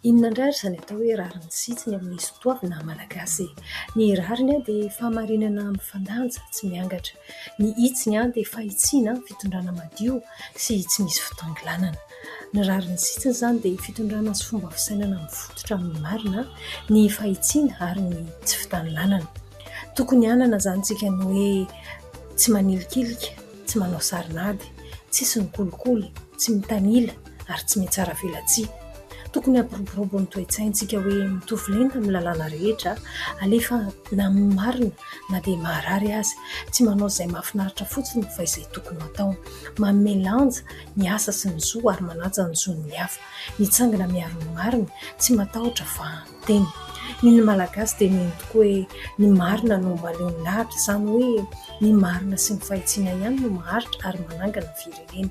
Inona indray ary izany atao hoe rariny sy hitsiny amin'ny soatoavina malagasy e ? Ny rariny dia fahamarinana mifandanja, tsy miangatra. Ny hitsiny dia fahitsiana, fitondrana madio sy tsy misy fitangilanana. Ny rariny sy hitsiny izany dia fitondrana sy fomba fisainana mifototra amin'ny marina, ny fahitsiana ary ny tsy fitangilanana. Tokony hanana izany isika ny hoe tsy manilikilika. tsy manao sarin'ady, tsisy mikolikoly, tsy mitanila ary tsy mitsara velatsihy. Tokony hampiroborobo ny toe-tsaintsika hoe mitovy lenta amin'ny lalàna rehetra, alefa na amin'ny marina na dia maharary aza, tsy manao izay mahafinaritra fotsiny fa izay tokony hatao, manome lanja ny asa sy ny zo ary manaja ny zon'ny hafa, mitsangana miaro ny marina, tsy matahotra fa. Teny. Ny ny Malagasy dia mino tokoa hoe ny marina no mahaleo ny lahatra, izany hoe ny marina sy ny fahitsiana ihany no maharitra ary manangana ny firenena.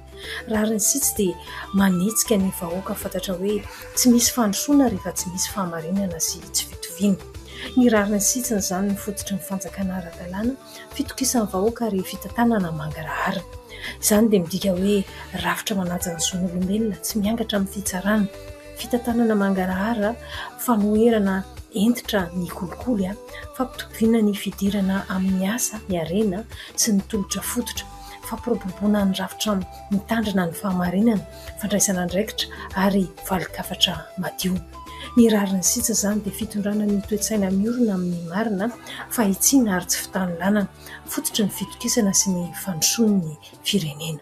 Rariny sy tsy dia manetsika ny vahoaka fantatra hoe tsy misy fandrosoana rehefa tsy misy fahamarinana sy tsy fitoviana. Ny rariny sy tsiny izany no fototry ny fanjakana ara-dalàna, fitokisan'ny vahoaka ary fitantanana mangaraharana. Izany dia midika hoe rafitra manaja ny zon'olombelona, tsy miangatra amin'ny fitsarana. Fitantanana mangarahara, fanoherana hentitra ny kolikoly, fampitoviana ny fidirana amin'ny asa, ny harena sy ny tolotra fototra, fampiroboroboana ny rafitra mitandrina ny fahamarinana, fandraisana andraikitra ary valin-kafatra madio. Ny rariny sitsa izany dia fitondrana ny toe-tsaina miorina amin'ny marina, fahitsiana ary tsy fitanilànana, fototry ny fitokisana sy ny fandrosoan'ny firenena.